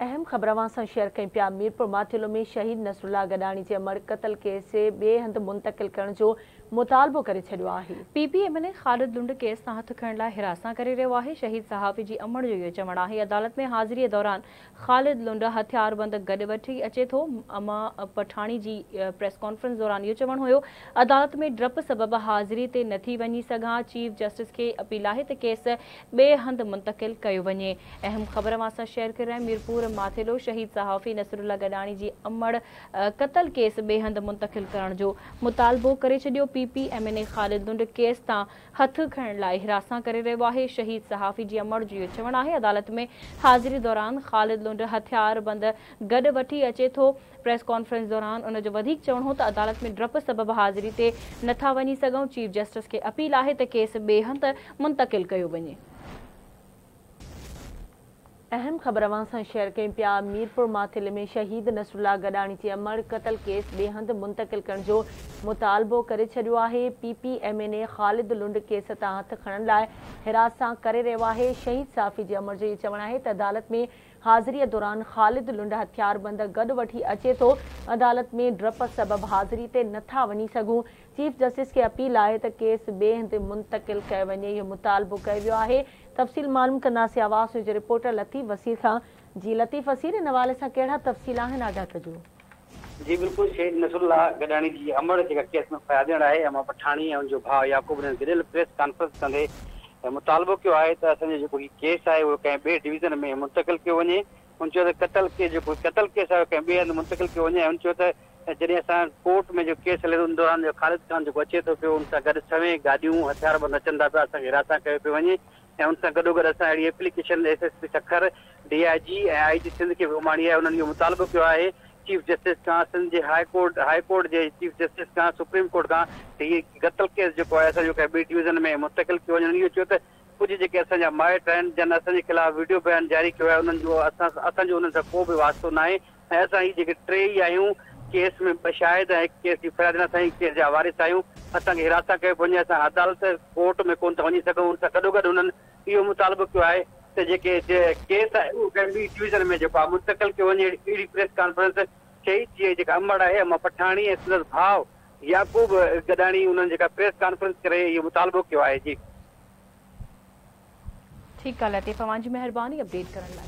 اهم خبر اوهان سان شيئر ڪيون پيا ميرپورماٿيلو ۾ شهيد نصرالله گڏاڻي جي امڙ قتل ڪيس کي ٻئي هنڌ منتقل ڪرڻ جو مطالبو ڪري ڇڏيو آهي. P P M N A Khalid Lund case تان هٿ کڻڻ لاء هراسان ڪري رهيو آهي، شهيد صحافي جي امڙ جو اهو چوڻ آهي عدالت ۾ حاضري دوران خالد لنڊ هٿياربند گڏ وٺي اچي ٿو اما پٺاڻي جي پريس ڪانفرنس دوران اهو چوڻ هيو عدالت ۾ ڊپ سبب حاضري تي نٿي وڃي سگهان چيف جسٽس کي اپيل آهي ته ڪيس ٻئي هنڌ منتقل ڪيو وڃي. اهم خبر اوهان سان شيئر ڪري رهيا آهيون ميرپور ماٿيلو شهيد صحافي نصرالله گڏاڻي جي امڙ قتل ڪيس ٻئي هنڌ منتقل ڪرڻ جو مطالبو ڪري ڇڏيو P P M N A Khalid Lund case تان هٿ کڻڻ لاء هراسان ڪري رهيو آهي شهيد صحافي جي امڙ جو اهو چوڻ آهي عدالت ۾ حاضري دوران خالد لنڊ هٿيار بند گڏ وٺي اچي ٿو پريس ڪانفرنس دوران ان جو وڌيڪ چوڻ هو ته عدالت ۾ ڊپ سبب حاضري تي نه ٿا وڃي سگهون، چيف جسٽس کي اپيل آهي ته ڪيس ٻئي هنڌ منتقل ڪيو وڃي. اهم خبر اوهان سان شيئر ڪيون پيا ميرپور ماٿيلي ۾ شهيد نصرالله گڏاڻي جي امڙ قتل ڪيس ٻئي هنڌ منتقل ڪرڻ جو مطالبو ڪري ڇڏيو آهي P P M N A Khalid Lund case تان هٿ کڻڻ لاء هراس سان ڪري رهيو آهي شهيد صحافي جي امڙ جو اهي چوڻ آهي ته عدالت ۾ حاضريء دوران خالد لنڊ هٿياربند گڏ وٺي اچي ٿو، عدالت ۾ ڊپ سبب حاضري تي نه ٿا وڃي سگهون، چيف جسٽس کي اپيل آهي ته ڪيس ٻئي هنڌ منتقل ڪيو وڃي، اهو مطالبو ڪيو ويو آهي، تفصيل معلوم ڪنداسين، آواز نيوز جي رپورٽر لطيف وسير کان. جي لطيف وسير ان حوالي سان ڪهڙا تفصيل آهن آگاهه ڪجو. جي بلڪل شھيد نصر الله گڏاڻي جي امڙ جيڪا ڪيس ۾ فرياديڻ آھي امان پٺاڻي ۽ ان جو ڀاء يعقوب ڏينھن گڏيل پريس ڪانفرنس ڪندي مطالبو ڪيو آھي ته اسان جو جيڪو ھي ڪيس آھي اھو ڪنھن ٻئي ڊويزن ۾ منتقل ڪيو وڃي ھن چيو ته قتل ڪيس جيڪو قتل ڪيس آھي ڪنھن ٻئي ھنڌ منتقل ڪيو وڃي ۽ ھن چيو ته جڏھن اسان ڪورٽ ۾ جو ڪيس ھلي ٿو ان دوران جو خالد خان جيڪو اچي ٿو پيو ان سان گڏ ڇوين گاڏيون ھٿياربند اچن ٿا پيا اسان کي ھراسان ڪيو پيو وڃي ۽ ان سان گڏوگڏ اسان اهڙي application S S P Sukkur, D I G ۽ I G Sindh کي به اماڻي آهي، انهن اهو مطالبو ڪيو آهي چيف جسٽس کان سنڌ جي هاء ڪورٽ هاء ڪورٽ جي چيف جسٽس کان سپريم ڪورٽ کان ته هي قتل ڪيس جيڪو آهي اسان جو ڪنهن ٻي ڊويزن ۾ منتقل ڪيو وڃي انهن اهو چيو ته ڪجهه جيڪي اسان جا مائٽ آهن جن اسان جي خلاف وڊيو بيان جاري ڪيو آهي انهن جو اسان اسان جو انهن سان ڪو به واسطو ناهي ۽ اسان هي جيڪي ٽي ئي آهيون، ڪيس ۾ ٻه شاهد ۽ هڪ ڪيس جي فرياد ڏناسين ۽ ڪيس جا وارث آهيون، اسان کي حراست سان ڪيو پيو وڃي، اسان عدالت، ڪورٽ، ۾ ڪونه ٿا وڃي سگهون، ان سان گڏوگڏ هنن اهو مطالبو ڪيو آهي ته جيڪي ڪيس آهي اهو ڪنهن ٻي ڊويزن ۾ جيڪو آهي منتقل ڪيو وڃي، اهڙي پريس ڪانفرنس شهيد جي جيڪا امڙ آهي امان پٺاڻي ۽ سندس ڀاء يعقوب گڏاڻي انهن جيڪا پريس ڪانفرنس ڪري اهو مطالبو ڪيو آهي جي. ٺيڪ آ لطيف اوهان جي مهرباني اپڊيٽ ڪرڻ لاء.